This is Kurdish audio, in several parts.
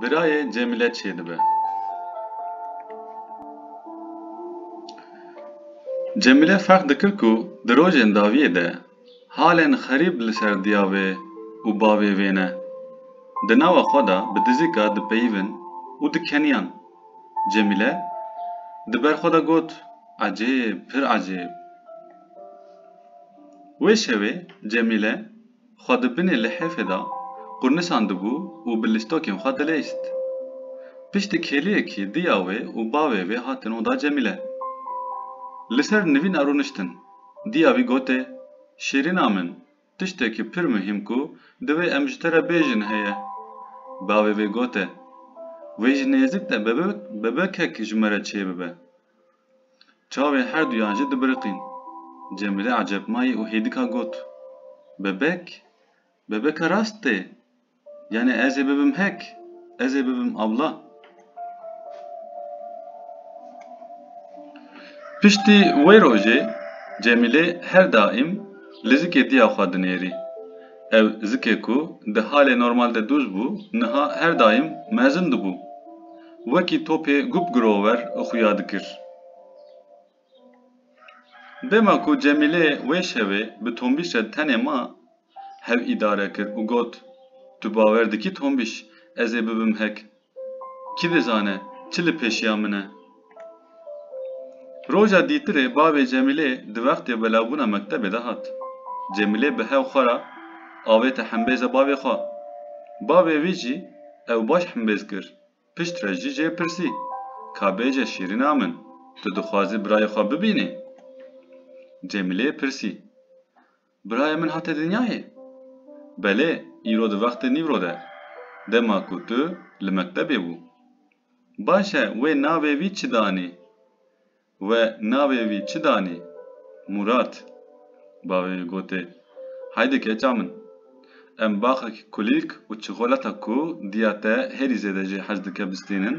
Birayê Cemile çê dibe. Cemile ferq dikir ku di rojên dawiyê de halên xerîb li ser diyavê û bavê wê ne. Di nawa xwe de bi dizîka dipeyivin û dikeniyan. Cemile di ber xwe de got, Ecêb, pir ecêb. Wê şevê Cemile. xwe di binê lihêfê de qurnisandibû û bi listokên xwe dileyst. Piştî kêliyekî diya wê û bavê wê hatin oda Cemîle. Li ser nivîna rûniştin, diya wî gotê, Şîrîna min, tiştekî pir muhîm ku divê em ji te re bêjin heye. Bavê wê gotê, Wê ji nêzik de bebekek ji me re çêbibe. Çavên herduyan jî dibiriqîn. Cemîle ecebmayî û hêdika got, Bebek? Bebeka rast tê? Yanî ez ê bibim hek? Ez ê bibim abla? Piştî wê rojê Cemîle her daîm li zikê diya xwe dinêrî. Ev zikê ku di halê normal de dûz bû, niha her daîm mezin dibû. Wekî topê gup girover xuya dikir. Dema ku Cemîlê wê şevê bi Tombîş re tenê ma, hev îdare kir û got, Tu bawer dikî Tombîş ez ê bibim hek? Kî dizane çi li pêşiya min e? Roja dîtirê bavê Cemîlê di wextê belawbûna mektebê de hat. Cemîlê bi hev xwe re avête hembêze bavê xwe. Bavê wî jî ew baş hembêz kir. Pişt re jî jê pirsî, Ka bêje şîrîna min, tu dixwazî birayê xwe bibînî? Cemîlê pirsî, Birayê min hate dinyayê? Belê, îro di wextê nîvro de, dema ku tu li mektebê bû. Baş e wê navê wî çi danî? We navê wî çi danî? Murat. Bavê wî gotê, Haydi keça min. Em baxekî kulîlk û çikolata ku diya te hêrî zêde jê hez dike bistînin.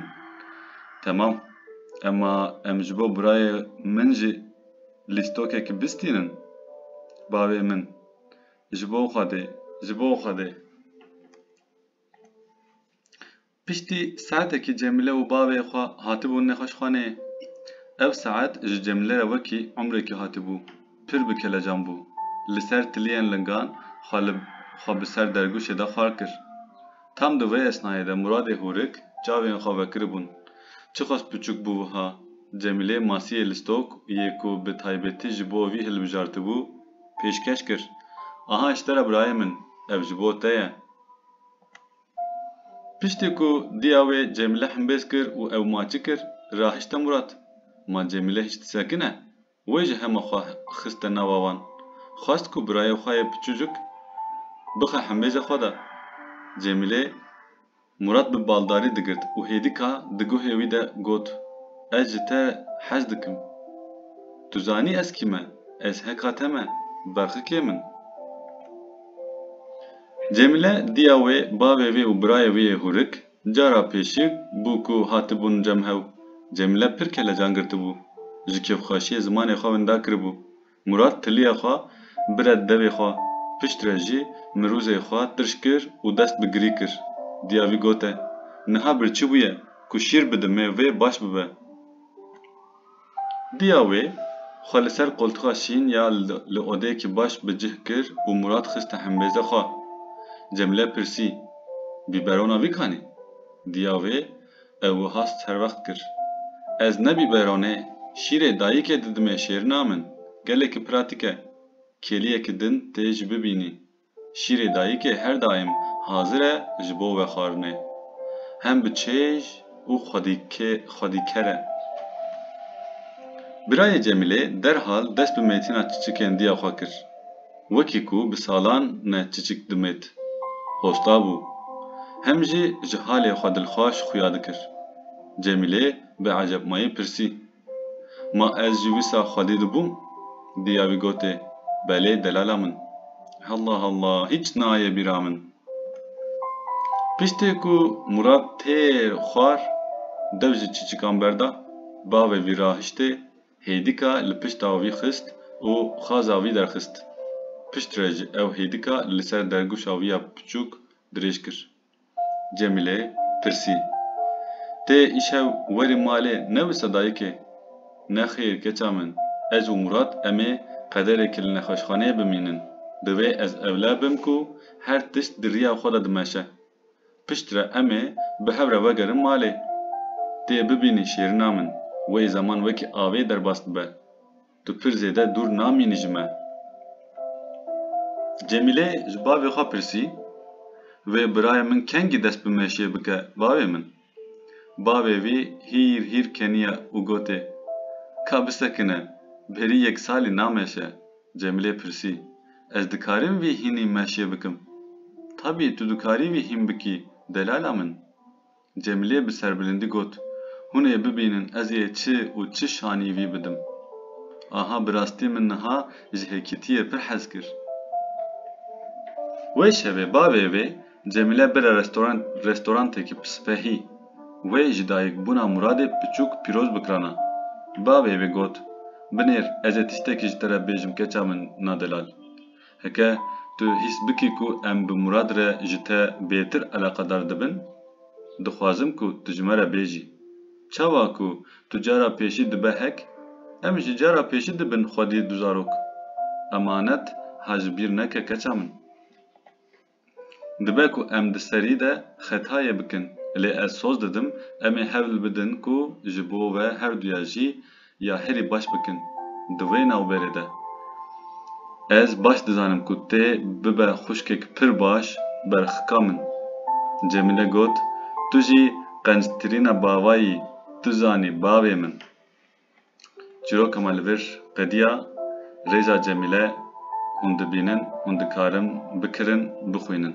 Temam. Emma em ji bo birayê min jî lîstokekî bistînin. Bavê min. Ji bo Xwedê. Ji bo Xwedê. Piştî saetekî Cemîle û bavê xwe hatibûn nexweşxaneyê. Ev saet ji Cemîle re wekî umrêkî hatibû. Pir bi kelecan bû. Li ser tiliyên lingan xwe li xwe bi ser dergûşê de xwar kir. Tam di vê esnayê de Muradê hûrik çavên xwe vekiribûn. Çixwest piçûk bû wiha! Cemîlê masiyê li stok yê ku bi taybetî ji bo vî hilbijartibû, pêşkeş kir, Aha ji te re birayê min, ev ji bo te ye. Piştî ku diya wê Cemîle himbêz kir û ew maçî kir, rahişte Murat. Ma Cemîle hîç disekine, wê ji hema xwe xiste nava wan. Xwest ku birayê xwe yê piçûcik bixe himbêzê xwe de. Cemîlê Murat bi baldarî digirt û hêdîka di guhê wî de got, Ez ji te hez dikim. Tu zanî ez kî me, ez heka te me, berxikê min. Cemile diya wê bavê wê û birayê wê yê hûrik, cara pêşîg bû ku hatibûn cem hew. Cemile pir kelecan girtibû. Ji kêfxweşiyê zimanê xwe winda kiribû. Mûrat tiliya xwe bire devê xwe, pişt re jî mirûzê xwe tirş kir û dest bi girî kir. Diya wî gote, Niha bir çi bûye ku şîr bidimê vê baş bibe. Diya wê, xwe li ser qoltuxa şîn ya li odeyekî baş bi cih kir û Mûrat xiste hembêze xwe. Cemîle pirsî, Bîberona vîkanî? Diya wê, ew wiha serwext kir, Ez ne bîberonê, şîrê dayîkê didimê şêrina min, gelekî pratîk e. Kêliyekî din tê ji bibînî. Şîrê dayikê her daîm hazir e ji bo we xwarinê. Hem bi çêj û xwedîker e. Birayê Cemîlê derhal dest bi mêtina çiçikên diya xwe kir. Wekî ku bi salan ne çiçik dimêt, hosta bû. Hem jî ji halê xwe dilxwaş xuya dikir. Cemîlê bi ecepmayî pirsî. Ma ez jî wisa xwedî dibûm, diya wî gotê, Belê delala min. Halla halla, hîç naye bîra min. Piştê ku Mûrad têr xwar, dew ji çîçikan berda, bavê wî rahiştê, hêdika li pişta wî xist û xaza wî derxist. Piştre ji ew hêdika li ser dergûşa wî ya piçûk dirêj kir. Cemîle pirsî. Tê îşev werî malê ne wisa dayikê? Nexêr keça min, ez û Murat em ê qederekî li nexweşxaneyê bimînin. Divê ez ewle bim ku her tişt di riya xwe de dimeşe. Piştre em ê bi hev re vegerin malê. Tê bibînî şêrina min, wê zeman wekî avê derbas dibe. Tu pir zêde dûr namînî ji me. Cemîle ji bavê xwe pirsî, Vê birayê min kengî dest bi meşê bike bavê min? Bavê vî hîr hîr keniye û gotê, Ka bisekine, berî yek salî nameşe. Cemîlê pirsî, Ez dikarîm vî hînî meşê bikim? Tabî tu dikarî vî hîn bikî delala min. Cemilê bi serbilindî got, Hûn ê bibînin ez ê çi û çi şanî vî bidim. Aha bi rastî min niha ji hêkîtiyê pir hez kir. Wê şevê bavê vê Cemile bire restorantekî bi sipehî. Wê ji dayikbûna Muradê piçûk pîroz bikirana. Bavê vê got, Binêr ez ê tiştekî ji te re bêjim keça min na delal. Heke tu hîs bikî ku em bi Murad re ji te bêtir eleqedar dibin, dixwazim ku tu ji me re bêjî. Çawa ku tu cara pêşî dibe hek, em jî cara pêşî dibin xwedî du zarok. Emanet ha ji bîr neke keça min. Dibe ku em di serî de xetayê bikin, lê ez soz didim em ê hewl bidin ku ji bo ve herduya jî ya herî baş bikin. Di wê navberê de ez baş dizanim ku tê bibe xwişkek pir baş berxka min. Cemîle got, Tu jî qenctirîna bavayî, tu zanî bavê min. Çîroka me li vir qediya, Rêza Cemîle Hûn dibînin, hûn dikarin bikirin, bixwînin.